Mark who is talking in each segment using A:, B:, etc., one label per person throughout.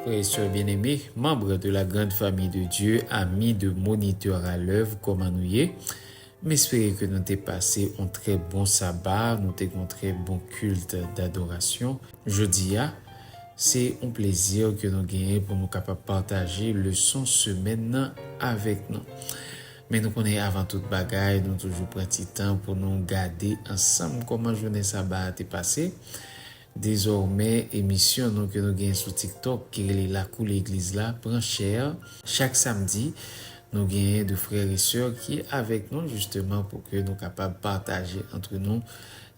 A: Frè e sè byeneme, manbre de la grand famiy de Dye, ami de Monitè a lèv, kòman nou ye? M espere ke nou te pase on trè bon Saba, nou te gen on trè bon kilt dadorasyon. Jodi a, se on plezi ke nou genyen pou nou kapab pataje leson semèn nan avèk nou. Men nou konnen avan tout bagay nou toujou pran ti tan pou nou gade ansanm kòman jounen saba a te pase. Dezòmè emisyon nou ke nou gen sou TikTok ki rele Lakou Legliz la pran chè. Chak samdi, nou genyen 2 frè e sè ki avèk nou jisteman pou ke nou kapab pataje antre nou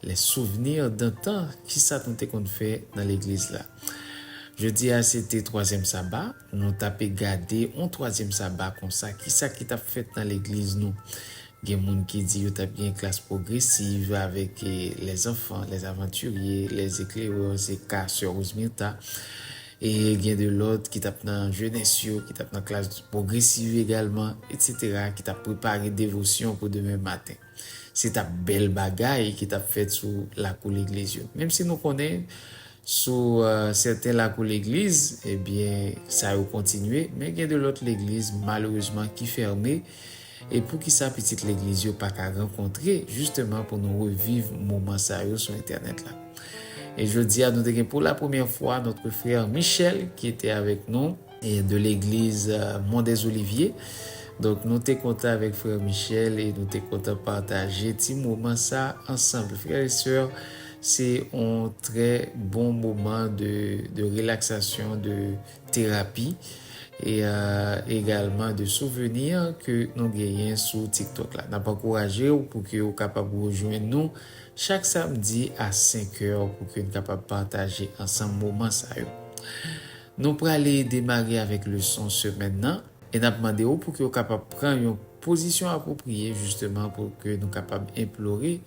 A: les souvenirs d'antan, kisa nou te konn fè nan legliz la. Jodi a se te twazyèm saba. Nou ta pe gade yon twazyèm saba konsa, ki sa ki t ap fèt nan legliz nou? Gen moun ki di yo t ap gen klas pwogresiv avèk lèzanfan, lèzavantirye, lèzeklerè, se ka sè Rosemirtha, e gen de lòt ki t ap nan jenès yo, ki t ap nan klas pwogresiv egalman, etsetera, ki t ap prepare devosyon pou demen maten. Se t ap bèl bagay ki t ap fèt sou lakou legliz yo. Menm si nou konnen Sou sèten lakou legliz, ebyen sa yo kontinye, men gen de lòt legliz malerezman ki fèmen, e poukisa pitit legliz yo pa ka rankontre jisteman pou nou reviv moman sa yo sou entènèt la. E jodi a nou te gen pou la premyè fwa notre frère Michel ki te avèk nou, de l'église Mont des Oliviers donk nou te kontan avèk frère Michel e nou te kontan pataje ti moman sa ansanm frères et sœurs se yon trè bon moman de relaxation de thérapie e egalman de souvenir ke nou genyen sou tiktok la nap ankourajew pou ke ou kapab rejwenn nou chak samedi a 5 heures pou ke nou kapab pataje ansanm moman sa yo. Nou prale demare avèk leson semèn nan e n ap mande ou pou ke ou kapab pran yon pozisyon apwopriye jisteman pou ke nou kapab enplore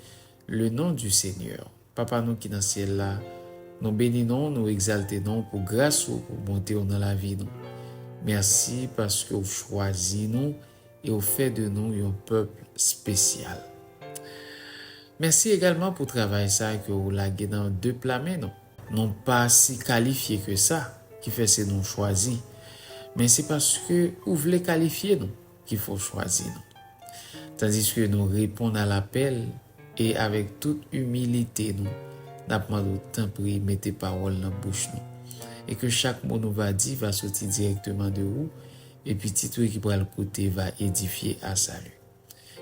A: le non du Seigneur. Papa nou ki nan syèl la, nou beni non w, nou egzalte non w pou gras ou, pou bonte w nan lavi nou. Mèsi paske ou chwazi nou e ou fè de nou yon pèp spesyal. Mèsi egalman pou travay sa ke ou lage nan de pla men nou. Nou pa si kalifye ke sa, ki fè se nou chwazi, men se paske ou vle kalifye nou ki fè w chwazi nou. Tandiske nou reponn a lapèl e avèk tout imilite nou, n ap mande w tanpri mete pawòl nan bouch nou e ke chak mo nou va di va soti dirèkteman de ou E pitit wi ki pral koute va edifye a sali.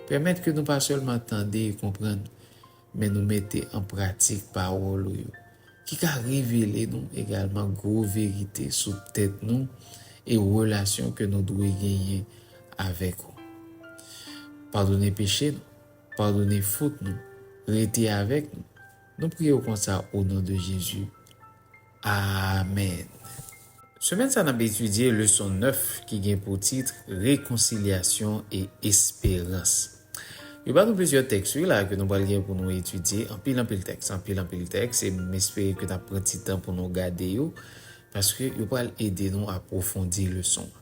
A: Pèmèt ke nou pa sèlman tande e konprann, men nou mete an pratik pawòl ou yo, ki ka revele nou egalman gwo verite sou tèt nou e relasyon ke nou dwe genyen avèk ou. Padone peche nou, padone fot nou, rete avèk nou, nou priye ou konsa o non de Jezi. Amen! Semèn sa n ap etidye leson 9 ki gen pou tit Rekonsilyasyon e esperans. Yo ba nou plizyè tèks wi la ke nou pral gen pou nou etidye, anpil anpil tèks, anpil anpil tèks e m espere ke n ap pran ti tan pou nou gade yo paske yo pral ede nou apwofondi leson an.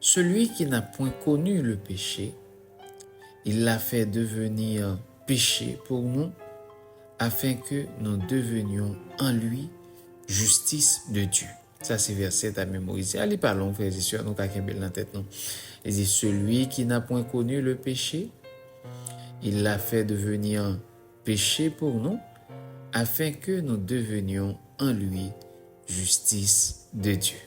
A: Celui qui n'a point connu le péché, il l'a fait devenir péché pour nous, afin que nous devenions en lui justice de Dieu. Sa se vèsè ta memorize a, li pa long frèz e sè, nou ka kenbe l nan tèt nou. Li di, Celui qui n'a point connu le péché, il l'a fait devenir péché pour nous, afin que nous devenions en lui justice de Dieu.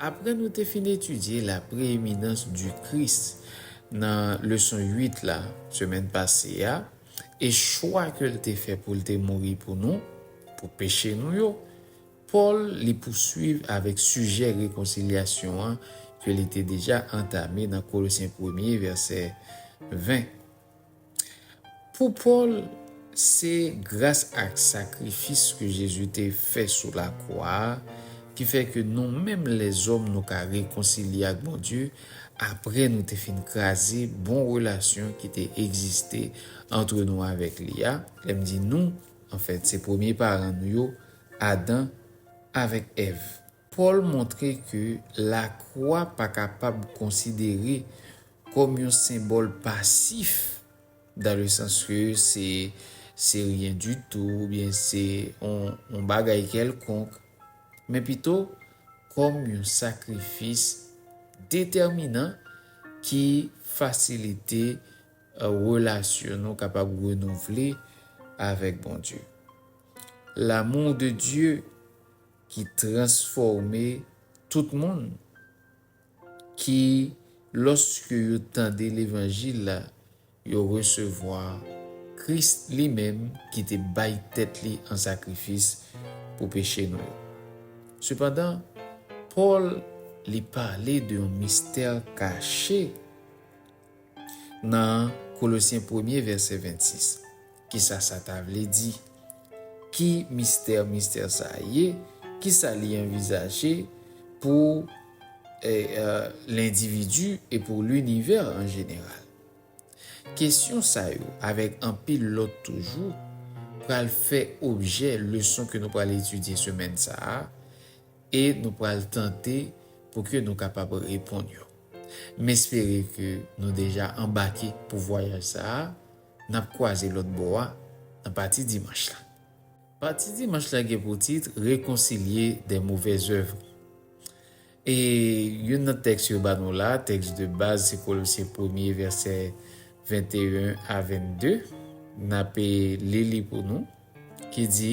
A: Apre nou te fin etidye la preeminence du Christ nan leson 8 la semèn pase a e chwa ke l te fè pou l te mouri pou nou, pou peche nou yo, Pòl li pousuiv avèk sijè rekonsilyasyon an ke li te deja antame nan Kolosyen premye vèsè 20. Pou Pòl, se gras ak sakrifis ke Jezi te fè sou lakwa a ki fè ke nou menm lèzòm nou ka rekonsilye ak Bondye apre nou te fin kraze bon relasyon ki te egziste antre nou avèk li a, lè m di nou, anfèt se premye paran nou yo, Adan avèk Èv. Pòl montre ke lakwa pa kapab konsidere kòm yon senbòl pasif, dan le sans ke se se ryen ditou oubyen se yon bagay kèlkonk, men pito kòm yon sakrifis detèminan ki fasilite relasyon nou kapab renouvle avèk Bondye. L'amour de Dieu. ki transfòme tout moun, ki, lòske yo tande levanjil la, yo resevwa Kris li menm ki te bay tèt li an sakrifis pou peche nou yo. Sepandan, Pòl li pale de yon mistè kache. Nan Kolosyen premye vèsè 26, kisa sa ta vle di? Ki mistè mistè sa a ye? Kisa li anvizaje pou lendividi e pou linivè an jeneral? Kesyon sa yo, avèk anpil lòt toujou, pral fè objè leson ke nou pral etidye semèn sa a, E nou pral tante pou ke nou kapab reponn yo. M espere ke nou deja anbake pou vwayaj sa a n ap kwaze lòt bò a nan pati dimanch la. Pati dimanch la gen pou tit Réconcilier des mauvaises œuvres. E youn nan tèks yo ba nou la, tèks de baz se Kolosyen premye vèsè 21 a 22, n ape li li pou nou, ki di,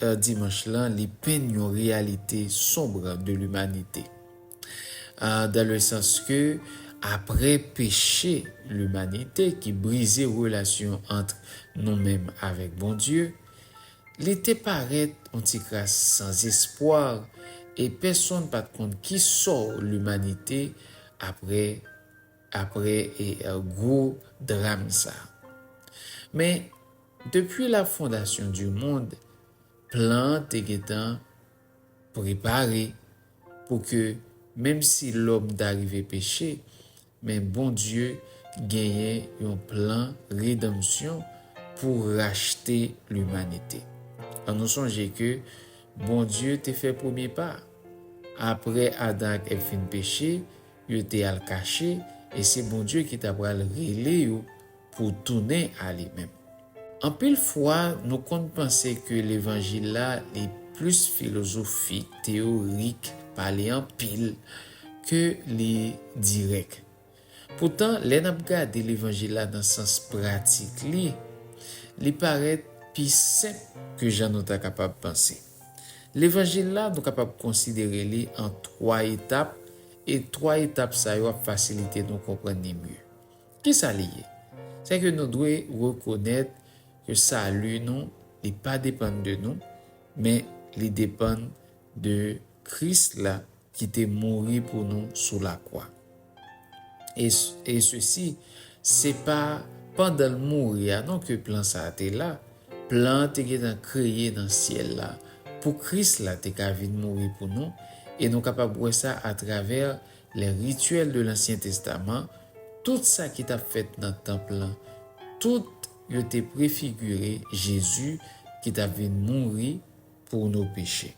A: Heure Dimanche lan li penn yon reyalite sombre de l'humanité. Dans le sens ke aprè peche l'humanité ki brize relasyon antr nou menm avèk Bondye, li te parèt yon ti kras san zespwar e pèsonn pat konn ki sò l'humanité aprè aprè gwo dram sa. Men. Depi la fondasyon di mond, plan an te gentan prepare pou ke menm si lòm ta rive peche, men Bondye genyen yon plan redanmsyon pou rachte limanite. An nou sonje ke Bondye te fè premye pa. Apre Adan ak Èv fin peche, yo te al kache e se Bondye ki ta pral rele yo Pou tounen a li menm. Anpil fwa nou konn panse ke levanjil la li plis filozofik, teyorik, pale anpil, ke li dirèk. Poutan lè n ap gade levanjil la nan sans pratik li, li parèt pi senp ke jan nou ta kapab panse. Levanjil la nou kapab konsidere li an 3 etap e 3 etap sa yo ap fasilite nou konprann li mye. Ki sa li ye? Se ke nou dwe rekonèt ke sali nou li pa depann de nou, men li depann de Kris la ki te mouri pou nou sou lakwa. E, e sesi, se pa pandan l mouri a non ke plan sa a te la, plan an te gentan kreye nan syèl la pou Kris la te ka vin mouri pou nou, e nou kapab wè sa atravè Les rituels de l'Ancien Testament, tout sa ki t ap fèt nan tanp lan, tout yo te prefigire Jezi ki t ap vin mouri pou nou peche.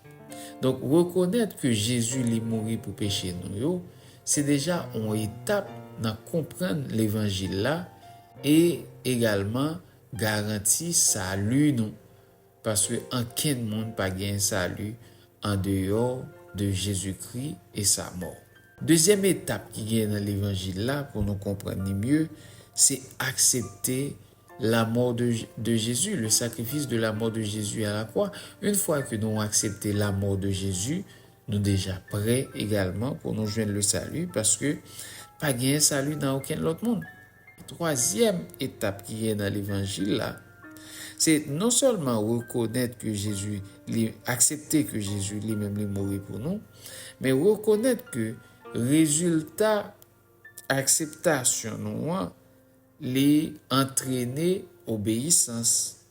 A: Donk, rekonèt ke Jezi li mouri pou peche nou yo, se deja yon etap nan konprann levanjil la e egalman garanti sali nou. Paske ankenn moun pa gen sali andeyò de Jezikri e sa mò. Dezyèm etap ki gen nan levanjil la pou nou konprann li mye, se aksepte la mort de Jésus, le sacrifice de la mort de Jésus à la croix. Une fwa ke nou aksepte la mort de Jésus, nou deja prè egalman pou nou jwenn le sali paske pa gen sali nan okenn lòt moun. Twazyèm etap ki gen nan levanjil la, se non sèlman rekonèt ke Jezi li, aksepte ke Jezi li menm li mouri pou nou, men rekonèt ke rezilta akseptasyon nou an li antrene obeyisans.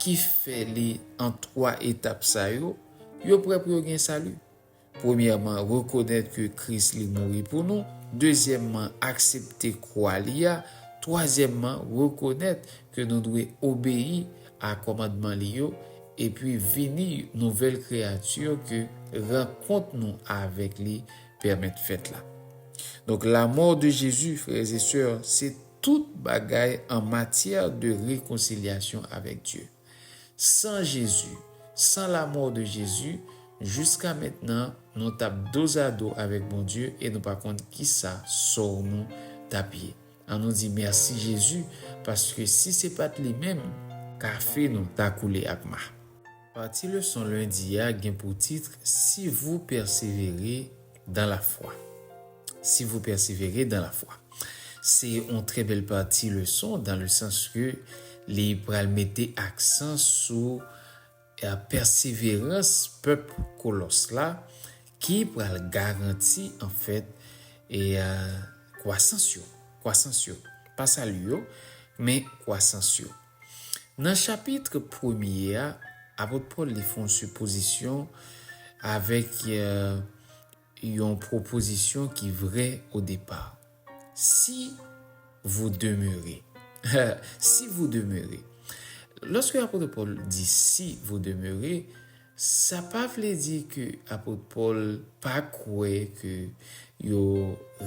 A: ki fè li an twa etap sa yo, yo prè pou yo gen sali. Premyèman, rekonèt ke Kris li mouri pou nou, dezyèmman, aksepte kwa li a, twazyèmman, rekonèt ke nou dwe obeyi a kòmandman li yo, epi vini nouvèl kreyati ke rankont nou avèk li pèmèt fèt la. Donk, lamò de Jezi, frè e sè, se. Tout bagay an matyè de rekonsilyasyon avèk Dye. San Jezi, san lamò de Jezi, jiska mentnan nou t ap dozado avèk Bondye e nou pa konn kisa sòw nou t ap ye. An nou di mèsi Jezi paske si se pat li menm, kafe nou ta koule ak ma. Pati leson lendi a gen pou titre Si vous perseverez dans la foi. Si vous perseverez dans la foi. Se yon trè bèl pati leson dan le sans ke li pral mete aksan sou pèseverans pèp Kolòs la ki pral garanti anfèt kwasans yo, kwasans yo. Pa sali yo, men kwasans yo. Nan chapitre premye a, apot Pòl li fè yon sipozisyon avèk yon pwopozisyon ki vrè o depa, Si vou demere. Si vou demere. Lòske apot Pòl di si vou demere, Sa pa vle di ke Apot Pòl pa kwè ke yo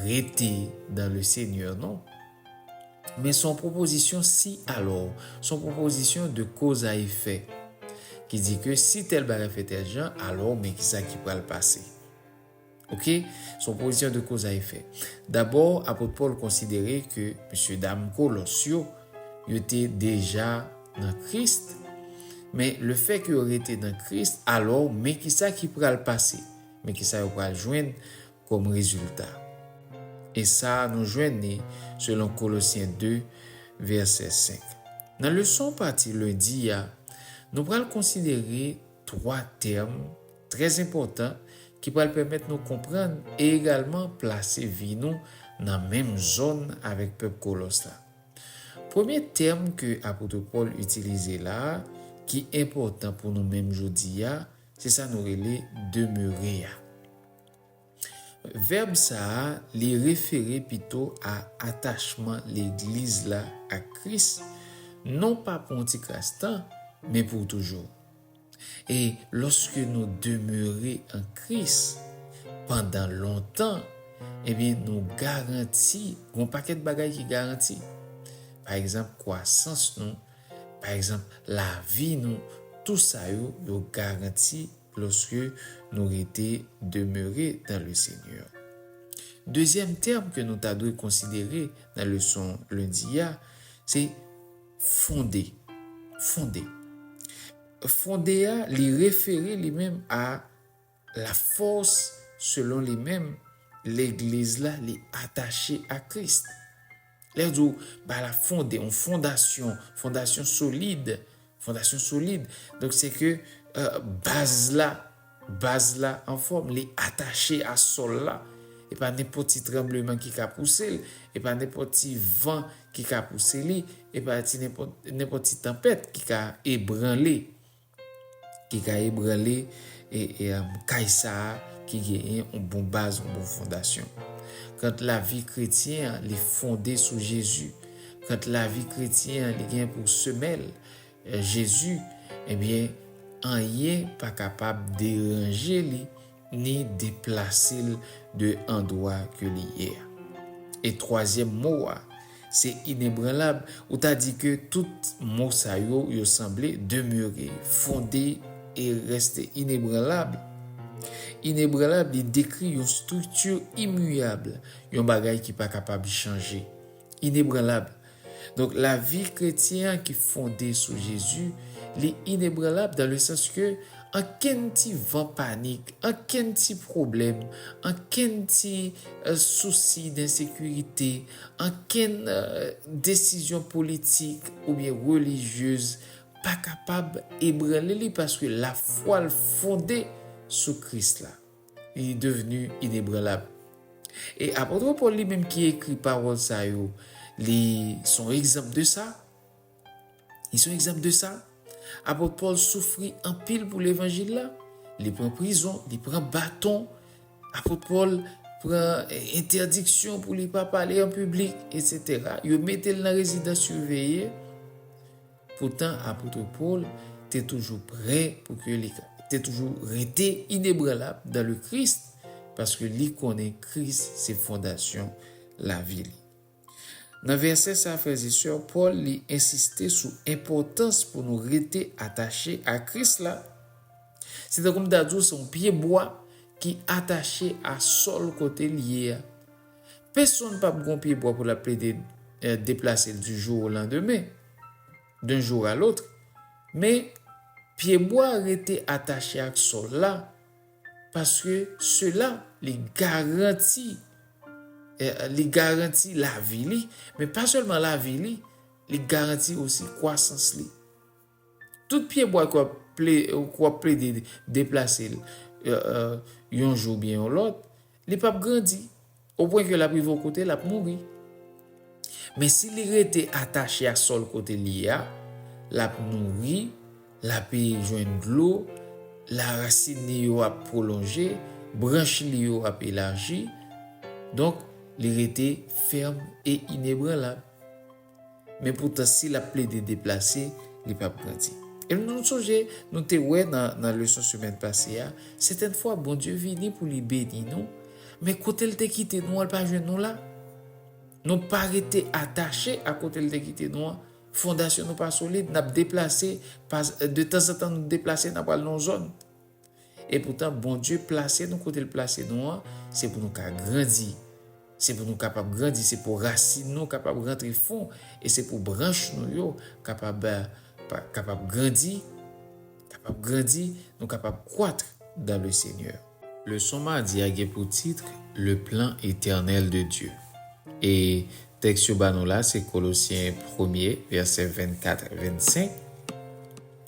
A: rete dan le Senyè non. Men s on pwopozisyon si alò, s on pwopozisyon de koz a efè, ki di ke si tèl bagay fè tèl jan, alò men kisa ki pral pase. Ok, son pwopozisyon de koz a efè. Dabò, apot Pòl konsidere ke mesyedam Kolòs yo, yo te deja nan Kris. Men, lefè ke yo rete nan Kris, alò, men kisa ki pral pase? Men kisa yo pral jwenn kòm rezilta? E sa a nou jwenn li selon Kolosyen 2, vèsè 5. Nan leson pati lendi a, nou pral konsidere twa tèm, Trè enpòtan, ki pral pèmèt nou konprann e egalman plase vi nou nan menm zòn avèk pèp Kolòs la. Premye tèm ke Apotre Pòl itilize la a, ki enpòtan pou nou menm jodi a, se sa nou rele demere a. Vèb sa a, li refere pito a atachman Legliz la ak Kris, non pa pou yon tikras tan, men pou toujou. E lòske nou demere an Kris pandan lontan, ebyen nou garanti, gen yon pakèt bagay ki garanti. Pa egzanp, kwasans nou, pa egzanp, lavi nou, tou sa yo, yo garanti Loske nou rete demeure dan le Senyè. Dezyèm tèm ke nou ta dwe konsidere nan leson lendi a, se fonde. Fonde. Fonde a li refere li menm a la fòs selon li menm legliz la li atache a Kris. Lè yo di w ba la fonde, yon fondasyon, fondasyon solid, fondasyon solid, donk se ke baz la, baz la anfòm, li atache a sòl la, e pa nenpòt ti tranbleman ki ka pouse l, e pa nenpòt ti van ki ka pouse li, e pa ti nenpòt ti tanpèt ki ka ebranle. Ki ka ebranle kay sa a ki genyen yon bon baz, yon bon fondasyon. Kant lavi kretyen an, li fonde sou Jezi. Kant lavi kretyen an, li gen pou semèl Jezi, ebyen, anyen pa kapab deranje li. Ni deplase l de andwa ke li ye a. E twazyèm mo a, se inebranlab, ou ta di ke tout mo sa yo, yo sanble, demeure, fonde e reste inebranlab. Inebranlab, li dekri yon strikti imuyab, yon bagay ki pa kapab chanje. Inebranlab, Donk lavi kretyen an ki fonde sou Jezi, li inebranlab dan le sans ke ankenn ti van panik, ankenn ti pwoblèm, ankenn ti sousi densekirite, ankenn desizyon politik oubyen relijyez pa kapab ebranle li paske lafwa l fonde sou Kris la. li devni inebranlab. E apôtre Paul li menm ki ekri pawòl sa yo, li se yon egzanp de sa. Li se yon egzanp de sa. Apôtre Paul soufri anpil pou levanjil la. Li pran prizon, li pran baton. Apôtre Paul pran entèdiksyon pou li pa pale an piblik, etc. Yo mete l nan rezidans siveye. Poutan apotre Paul te toujou prè pou ke li ka te toujou rete inebranlab dan le Kris paske li konnen Kris se fondasyon lavi li. Nan vèsè sa frèze sè Paul li ensiste sou enpòtans pou nou rete atache a Kris la. Se tankou m ta di w se yon pye bwa ki atache a sòl kote l ye a. Pesonn pap gon pye bwa pou lap plede deplase l du jour au lendemain, d'un jour à l'autre, men pye bwa rete atache ak sòl la paske sela li garanti li garanti lavi li, men pa sèlman lavi li, li garanti osi kwasans li. Tout pye bwa ke w ap plede deplase l yon jou oubyen yon lòt, li p ap grandi, o pwen ke l ap rive yon kote l ap mouri. Men si li rete atache a sòl kote l ye a, l ap nouri, l ape jwenn dlo, larasin li yo ap pwolonje, branch li yo ap elaji, donk li rete fèm e inebranlab. Men poutan si lap plede deplase, li pap grandi. E nou sonje nou te wè nan leson semèn pase a, sèten fwa Bondye vini pou li beni nou, men kote l te kite nou an l pa jwenn nou la. Nou pa rete atache a kote l te kite nou an, fondasyon nou pa solid, nap deplase, de tanzantan nou deplase nap al nan yon zòn. E poutan Bondye plase nou kote l plase nou an, se pou nou ka grandi. Se pou nou kapab grandi, se pou rasin nou kapab rantre fon e se pou branch nou yo kapab kapab grandi, kapab grandi, nou kapab croitre dans le Seigneur. Leson madi a gen pou tit, Le plan éternel de Dieu. E tèks yo ba nou la se Kolosyen premye, vèsè 24, 25.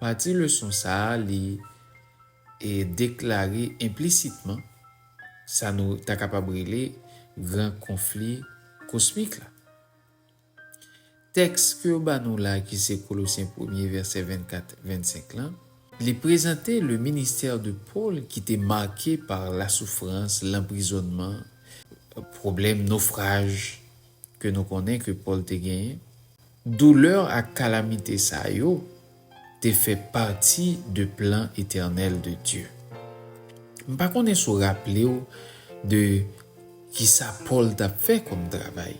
A: Pati leson sa a li deklare enplisitman sa nou ta kapab rele gran konfli kosmik la. Tèks ke yo ba nou la a ki se Kolosyen premye vèsè 24, 25 lan, li prezante le ministère de Paul ki te marke par la souffrance, l'emprisonnement, pwoblèm nofraj, ke nou konnen ke Pòl te genyen, doulè ak kalamite sa yo te fè pati de plan etènèl de Dye. M pa konnen si w raple w de kisa Pòl t ap fè kòm travay.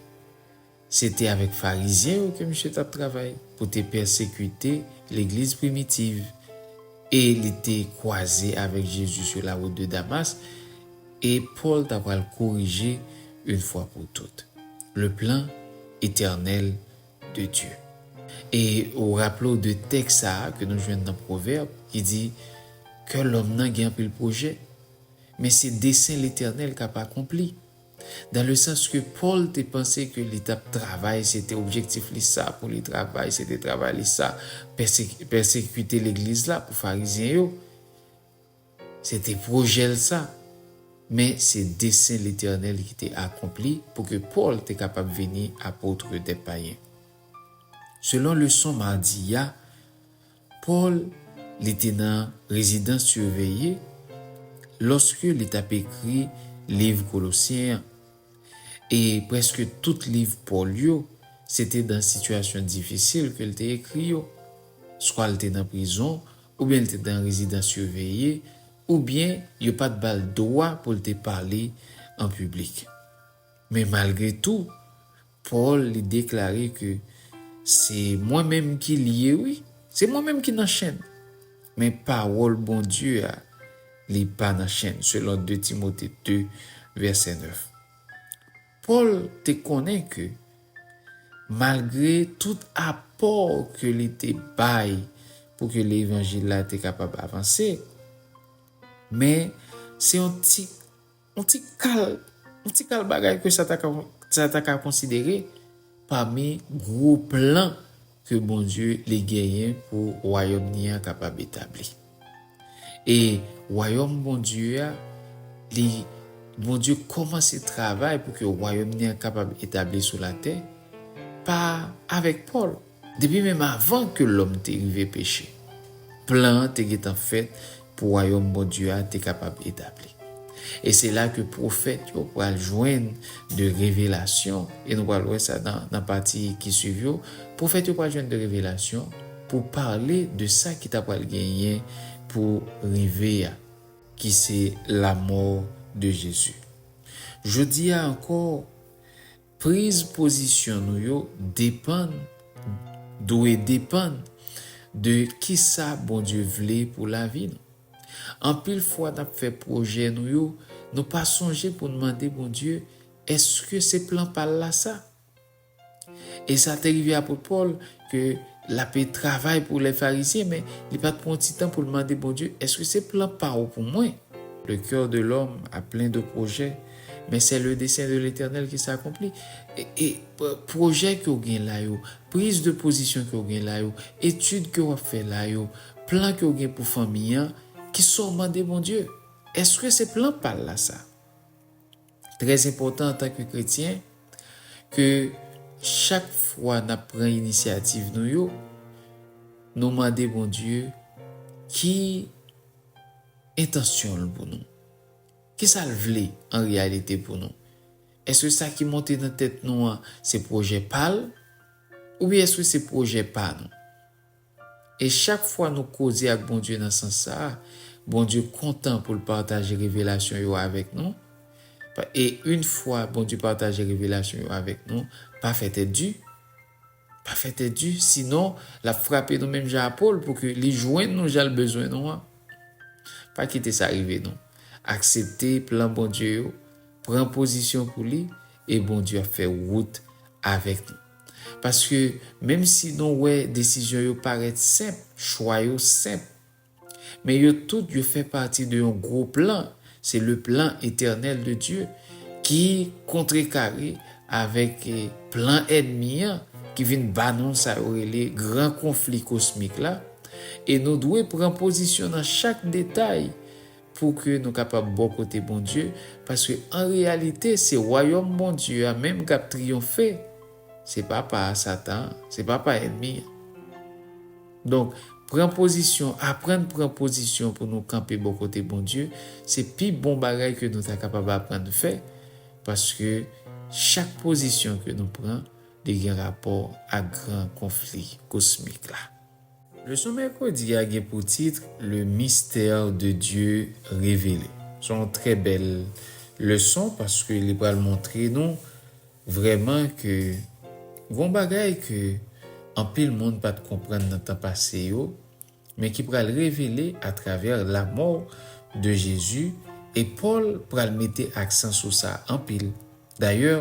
A: Se te avèk Farizyen yo ke misye t ap travay pou te pèsekite legliz primitiv, e li te kwaze avèk Jezi sou lawout de Damas, E Pòl ta pral korije une fwa pou tout, le plan etènèl de Dye. E ou raple w de tèks sa a ke nou jwenn nan Pwovèb ki di, Kè lòm nan gen anpil pwojè, men se desen Letènèl k ap akonpli. Dan le sans ke Pòl te panse ke li t ap travay, se te objektif li sa pou li travay, se te travay li sa, pèsekite legliz la pou Farizyen yo. Se te pwojè l sa. Men, se desen Letènèl ki te akonpli pou ke Pòl te kapab vini apotre dè payen. Selon leson madi a, Pòl, li te nan rezidans siveye lòske li t ap ekri liv Kolosyen an. E prèske tout liv Pòl yo, se te nan sitiyasyon difisil ke l te ekri yo. Swa l te nan prizon, oubyen li te nan rezidans siveye, oubyen yo pa t ba l dwa pou l te pale an piblik. Men malgre tou, Pòl li deklare ke, Se mwen menm ki l ye, wi, se mwen menm ki nan chenn, men pawòl Bondye a, li pa nan chenn, selon 2 Timote 2, vèsè 9. Pòl te konnen ke malgre tout apò ke li te bay pou ke levanjil la te kapab avanse, men se yon ti, yon ti kal, yon ti kal bagay ke sa ta ka, sa ta ka konsidere pami gwo plan ke Bondye li genyen pou Wayòm ni a kapab etabli. E Wayòm Bondye a, li, Bondye kòmanse travay pou ke Wayòm ni a kapab etabli sou latè pa avèk Pòl. Depi menm avan ke lòm te rive peche, plan an te gentan fèt pou wayòm Bondye a te kapab etabli. E se la ke pwofèt yo pral jwenn de revelasyon, e nou pral wè sa nan pati ki swiv yo, pwofèt yo pral jwenn de revelasyon pou pale de sa ki ta pral genyen pou rive a, ki se lamò de Jezi. Jodi a ankò, Priz pozisyon nou yo depann, dwe depann, de kisa Bondye vle pou lavi nou. Anpil fwa n ap fè pwojè nou yo, nou pa sonje pou n mande Bondye èske se plan pa l la sa? E sa te rive apot Pòl, ke l ape travay pou lè Farizyen, men li pa t pran yon ti tan pou l mande Bondye, Èske se plan pa ou pou mwen? Le cœur de l'homme a plein de projets, mais c'est le dessein de l'Eternel ki s'akonpli. E pwojè ke w gen la yo, priz de pozisyon ke w gen la yo, etid ke w ap fè la yo, plan ke w gen pou fanmi an, kisa w mande Bondye? Èske se plan pa l la sa? Trè enpòtan antanke kretyen ke chak fwa nap pran inisyativ nou yo, nou mande Bondye ki entansyon l pou nou. Kisa l vle an reyalite pou nou? Èske sa ki monte nan tèt nou an se pwojè pa l? Oubyen èske se pwojè pa nou? E chak fwa nou koze ak Bondye nan sans sa a, Bondye kontan pou l pataje revelasyon yo avèk nou. E yn fwa Bondye pataje revelasyon yo avèk nou, pa fè tèt di. Pa fè tèt di, sinon l ap frape nou menm jan a Pòl pou ke li jwenn nou jan l bezwen nou an. Pa kite sa rive nou. Aksepte plan Bondye yo, pran pozisyon pou li, e Bondye ap fè wout avèk nou. Paske, menm si nou wè desizyon yo parèt senp, chwa yo senp, men yo tout yo fè pati de yon gwo plan, se le plan etènèl de Dye, ki kontrekare avèk plan ènmi an ki vin ba nou sa yo rele gran konfli kosmik la, e nou dwe pran pozisyon nan chak detay, pou ke nou kapab bò kote Bondye, paske an reyalite se wayòm Bondye a menm k ap triyonfe, se pa pa Satan an, se pa pa ènmi an. Donk, pran pozisyon, aprann pran pozisyon pou nou kanpe bò kote Bondye, se pi bon bagay ke nou ta kapab aprann fè, paske chak pozisyon ke nou pran, li gen rapò ak gran konfli kosmik la. Leson mèkredi a gen pou tit Le mystère de Dieu révélé. Se yon trè bèl leson paske li pral montre nou vrèman ke gon bagay ke anpil moun pat konprann nan tan pase yo men ki pral revele atravè lamò de Jezi e Pòl pral mete aksan sou sa anpil. Dayè.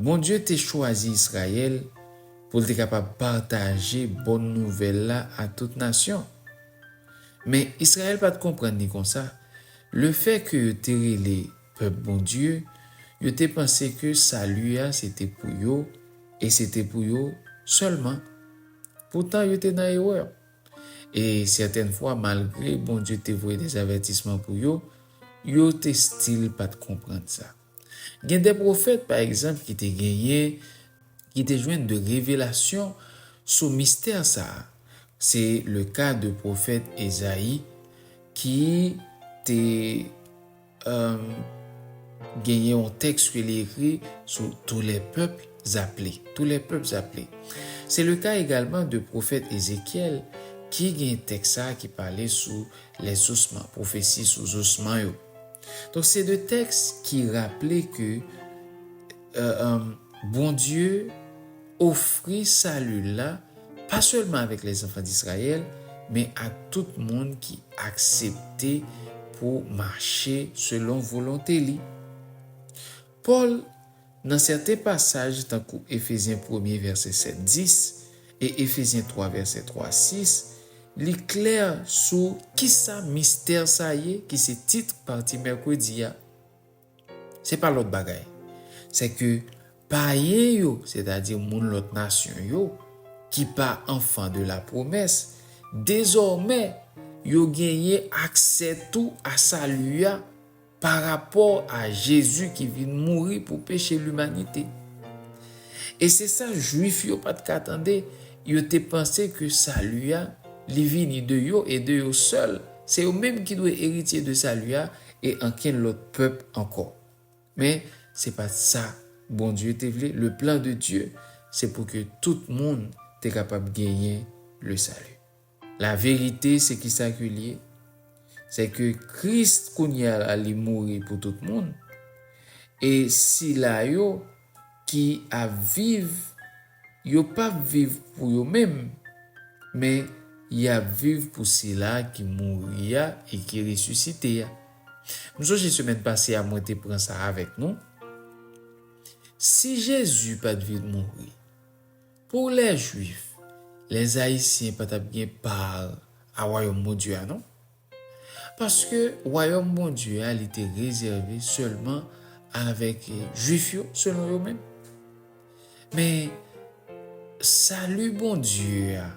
A: Bondye te chwazi Izrayèl pou l te kapab pataje bon nouvèl la ak tout nasyon. Men, Izrayèl pa t konprann li konsa. Lefètke yo te rele pèp Bondye, yo te panse ke sali a se te pou yo e se te pou yo sèlman. Poutan, yo te nan erè. E sèten fwa, malgre Bondye te voye dezavètisman pou yo, yo te stil pa t konprann sa. Gen de pwofèt, pa egzanp, ki te genyen, ki te jwenn de revelasyon sou mistè sa a. Se le ka de pwofèt Ezayi ki te genyen yon tèks ke li ekri sou Tous les peuples appelés, Tous les peuples appelés. Se le ka egalman de pwofèt Ezekyèl ki gen tèks sa a ki pale sou Les ossements, pwofesi sou zosman yo. Donk se de tèks ki raple ke Bondye ofri sali l la pa sèlman avèk les enfants d'Israël men ak tout moun ki aksepte pou mache selon volonte li. Pòl. Nan sèten pasaj tankou Efezyen premye vèsè 7, 10 e Efezyen twa vèsè 3, 6, li klè sou kisa mistè sa ye ki se tit pati mèkredi a, se pa lòt bagay, sèke payen yo, sètadi moun lòt nasyon yo, ki pa anfan de lapwomès, dezòmè yo genyen aksè tou a Sali a. pa rapò a Jezi ki vin mouri pou peche limanite. E se sa Juif yo pa t ka tande, yo te panse ke Sali a, li vini de yo e de yo sèl, se yo menm ki dwe eritye de Sali a e ankenn lòt pèp ankò. Men, se pa t sa Bondye te vle, le plan de Dieu, se pou ke tout moun te kapab genyen le Salut. La verite se kisa ke li ye? Se ke Christ kounye a la li mouri pou tout moun e sila yo ki ap viv yo pap viv pou yo menm men yap viv pou sila ki mouri a e ki resisite a. M sonje semèn pase a mwen te pran sa avèk nou. Si Jezi pat vin mouri, Pou lè Jwif, lèzayisyen pa t ap gen pa a Wayòm Bondye a non. Paske Wayòm Bondye a li te rezève sèlman avèk Jwif yo selon yo menm. Men, sali Bondye a,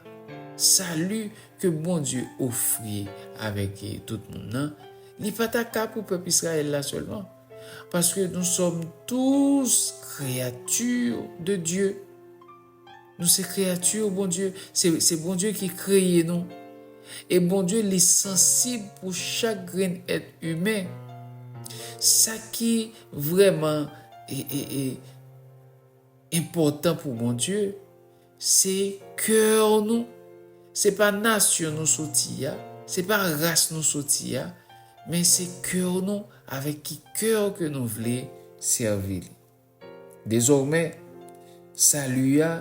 A: sali ke Bondye ofri avèk tout moun nan, li pa ta ka pou pèp Izrayèl la sèlman. Paske nou sòm tous kreyati de Dye. Nou se kreyati Bondye. Se Bondye ki kreye nou. E Bondye li sansib pou chak grenn èt imen. Sa ki vrèman enpòtan pou Bondye, Se coeur nou, se pa nation nou soti a, se pa ras nou soti a, men se coeur nou avèk ki coeur ke nou vle sèvi li. Dezòmè, sali a,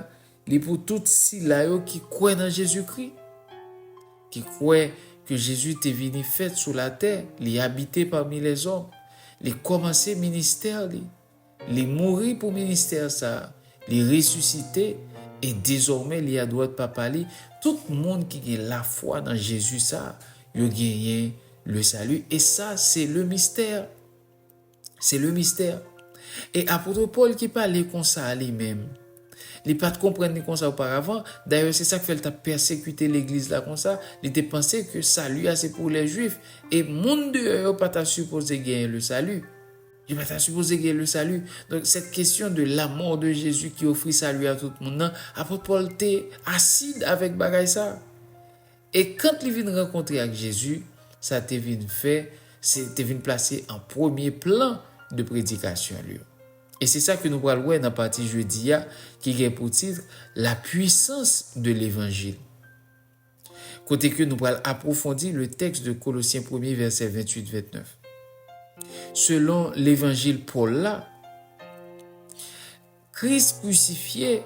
A: li pou tout sila yo ki kwè nan Jezikri, ki kwè ke Jezi te vini fèt sou latè, li abite pami lèzòm, li kòmanse ministè li, Li mouri pou ministè sa a, li resisite, e dezòmè li adwat Papa li, tout moun ki gen lafwa nan Jezi sa a, yo genyen le sali, e sa se le mistè, se le mistè. E apotre Pòl ki pale konsa a li menm, li pa t konprann ni konsa oparavan, dayè se sa k fè l t ap pèsekite legliz la konsa, li te panse ke sali a se pou lè Jwif, e moun deyò yo pa ta sipoze genyen le sali. Yo pa ta sipoze gen le sali. Donk, sèt kesyon de lamò de Jezi ki ofri sali a tout moun nan, apot Pòl te asid avèk bagay sa. E kant li vin rankontre ak Jezi, sa te vin fè, se te vin plase an premye plan de predikasyon l yo. E se sa ke nou pral wè nan pati jodi a ki gen pou titre, La puissance de l'Evangile. kote ke nou pral apwofondi le tèks de Kolosyen premye vèsè 28, 29. Selon levanjil Pòl la, Kris krisifye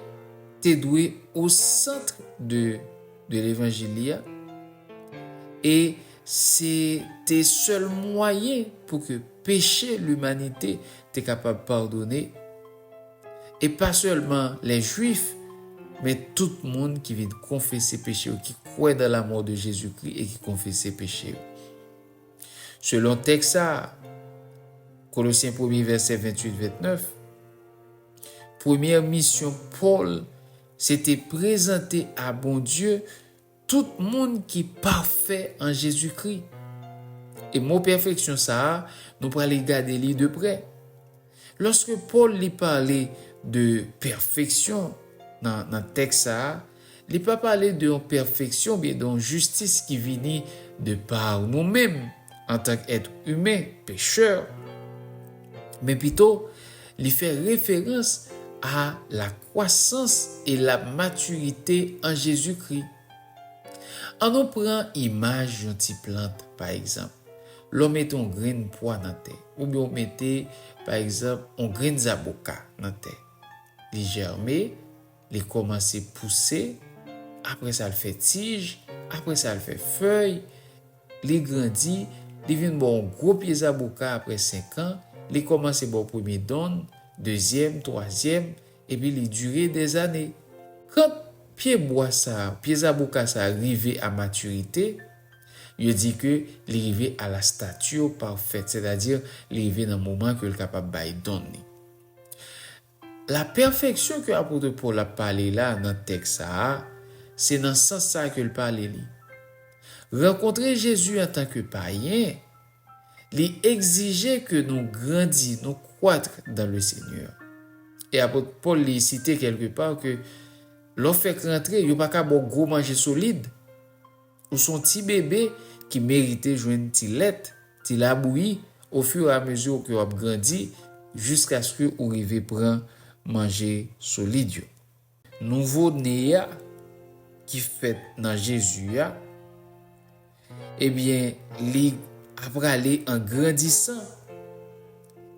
A: te dwe o centre de de levanjil li a, e se te sèl mwayen pou ke peche limanite te kapab padone, E pa sèlman lè Jwif, men tout moun ki vin konfese peche yo, ki kwè nan lamò de Jezikri e ki konfese peche yo. Selon tèks sa a, Kolosyen premye vèsè 28, 29, premyè misyon Pòl se te prezante a Bondye, Tout moun ki pafè an Jezikri. E mo pèfeksyon sa a, nou prale gade li de prè. Lòske Pòl li pale de pèfeksyon nan tèks sa a, li pa pale de yon pèfeksyon oubyen de yon jistis ki vini de pa nou menm, antank èt imen pechè, men pito li fè referans a la kwasans e la matirite an Jezikri. Annou pran imaj yon ti plant, pa egzanp, lè w mete yon grenn pwa nan tè, oubyen w mete, pa egzanp, yon grenn zaboka nan tè. Li jèrme, li kòmanse pouse, apre sa l fè tij, apre sa l fè fèy, Li grandi, li vin ba w yon gwo pye zaboka apre senkan, li kòmanse ba w premye donn, dezyèm, twazyèm, epi li dire dèzane. Kant pye bwa sa a, pye zaboka sa a rive a matirite, yo di ke li rive a la stature parfaite, sètadi li rive nan moman ke l kapab bay donn li. Lapèfeksyon ke apotre Pòl ap pale la nan tèks sa a, se nan sans sa a ke l pale li. Rankontre Jezi antanke payen, li egzije ke nou grandi, nou croître dans le Seigneur. E apot Pòl li site kèlke pa ke lè w fèk rantre, yo pa ka ba w gwo manje solid. Ou s on ti bebe ki merite jwenn ti lèt, ti labouyi ofiramezi ke w ap grandi jiskaske ou rive pran manje solid yo. Nouvo ne a ki fèt nan Jezi a, ebyen li aprale an grandisan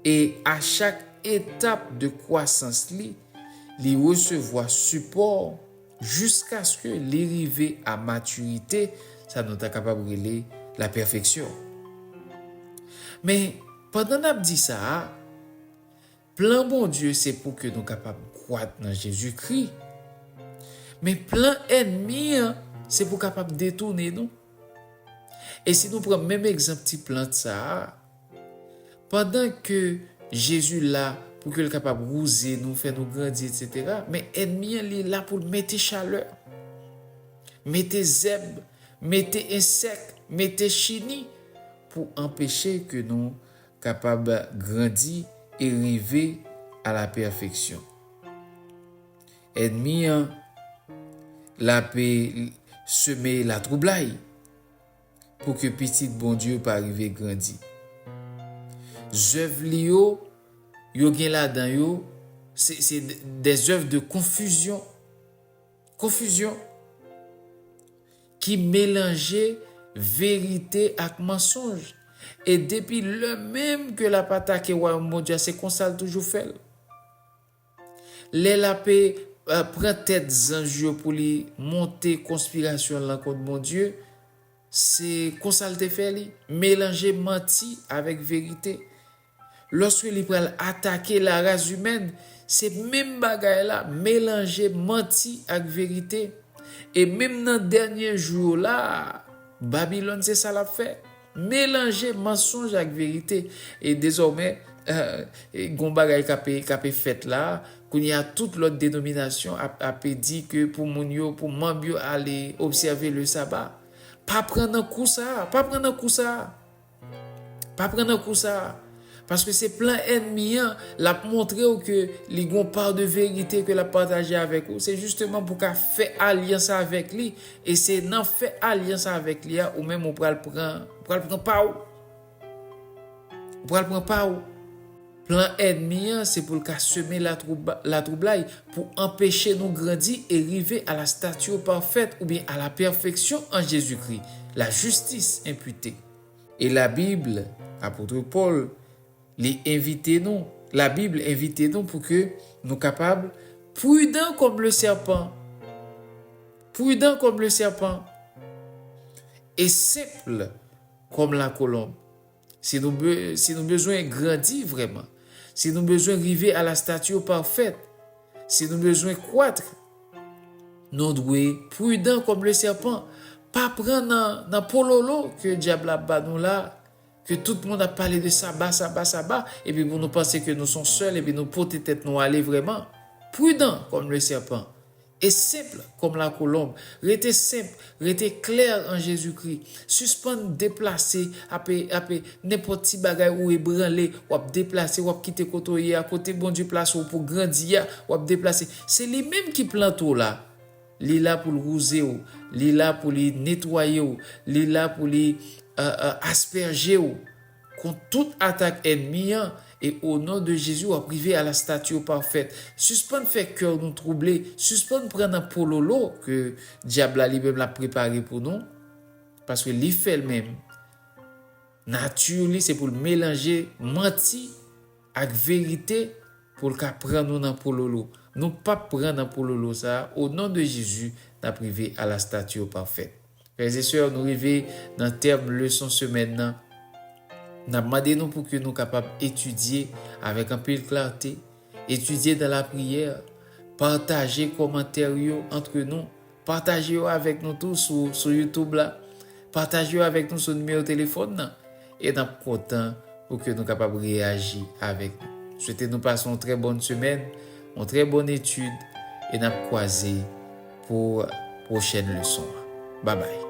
A: e a chak etap de kwasans li, li resevwa sipò, Jiskaske li rive a matirite, sa nou ta kapab rele lapèfeksyon. Men, pandan n ap di sa a, plan Bondye se pou ke nou kapab kwak nan Jezikri, men plan ènmi an se pou kapab detounen nou. E si nou pran menm egzanp ti plant sa a, Pandan ke Jezi la pou ke l kapab wouze nou, fè nou grandi etc. Men ènmi an li la pou l mete chalè, mete zèb, mete ensèk, mete chini pou anpeche ke nou kapab grandi e rive a la pèfeksyon. Ènmi an l ape seme latwoublay. pou ke pitit Bondye pa rive grandi. Zèv li yo, yo gen ladan yo, se, se dè zèv de konfizyon, konfizyon, ki melanje verite ak mansonj. E depi lè menm ke l ap atake Wayòm Bondye a, se konsa l toujou fè l. Lè lape pran tèt zanj yo pou li monte konspirasyon lan kont Bondye, se konsa l te fè li, melanje manti avèk verite. Lòske li pral atake laras imèn, se menm bagay la, melanje manti ak verite. E menm nan dènye jou yo la a, Babilòn se sa l ap fè. Melanje mansonj ak verite e dezòmè gon bagay k ape fèt la a, kounye a tout lòt denominasyon ap ape di ke pou moun yo, pou manb yo ale obsève le saba. Pa pran nan kou sa a, pa pran nan kou sa a, pa pran nan kou sa a. Paske se plan ènmi an, l ap montre ou ke li gen yon pa de verite ke l ap pataje avèk ou. Se jisteman pou w ka fè alyans avèk li, e se nan fè alyans avèk li a ou menm ou pral pran, ou pral pran pa ou. Ou pral pran pa ou. Plan ènmi an se pou l ka seme latwoublay, pou anpeche nou grandi e rive a la statio parfaite oubyen a la pèfeksyon an Jezikri, la justice imputée. E la Bible, Apotre Paul, li envite nou, la Bible envite nou pou ke nou kapab prudan kòm le sèpan, prudan kòm le sèpan, e senpl kòm la kolonb. Si nou, si nou bezwen grandi vrèman, si nou bezwen rive a la stature parfaite, Si nou bezwen kwatr, nou dwe prudan kòm le sèpan, pa pran nan pololo ke dyab la ap ba nou la, ke tout moun ap pale de saba, saba, saba, epi pou nou panse ke nou son sèl epi nou pote tèt nou ale vrèman. Prudan kòm le sèpan e senpl Kòm lakolonb. Rete senp, rete klè an Jezikri. Sispann deplase, ap, ap, nenpòt ti bagay ou ebranle, w ap deplase, w ap kite kote w ye a, kote Bondye plase w pou grandi a, w ap deplase. Se li menm ki plante w la. Li la pou l wouze w, li la pou li netwaye w, li la pou li, a, a, aspèje w. Kont tout atak ènmi an e o non de Jezi wap rive a la statue parfaite suspann fè cœur nou trouble suspann pran nan pololo ke diab la li menm lap prepare pou nou paske li fèl menm nature li se poul melanje manti ak verite poul ka pran nou nan pololo nou pap pran nan pololo sa o non de Jezi nap rive a la statue parfaite. Frères et sœurs, nou rive nan tèm leson semèn nan. Nap mande nou pouki nou kapab etidye avèk anpil klarte, etidye dan lapriyè, pataje kòmantè yo antre nou, pataje yo avèk nou tou sou YouTube la, pataje yo avèk nou sou nimewo telefòn nan. E nap kontan pou ke nou kapab reyaji avèk nou. Swete nou pase yon trè bòn semèn, yon trè bòn etid e nap kwaze pou pwochèn leson an. Babay!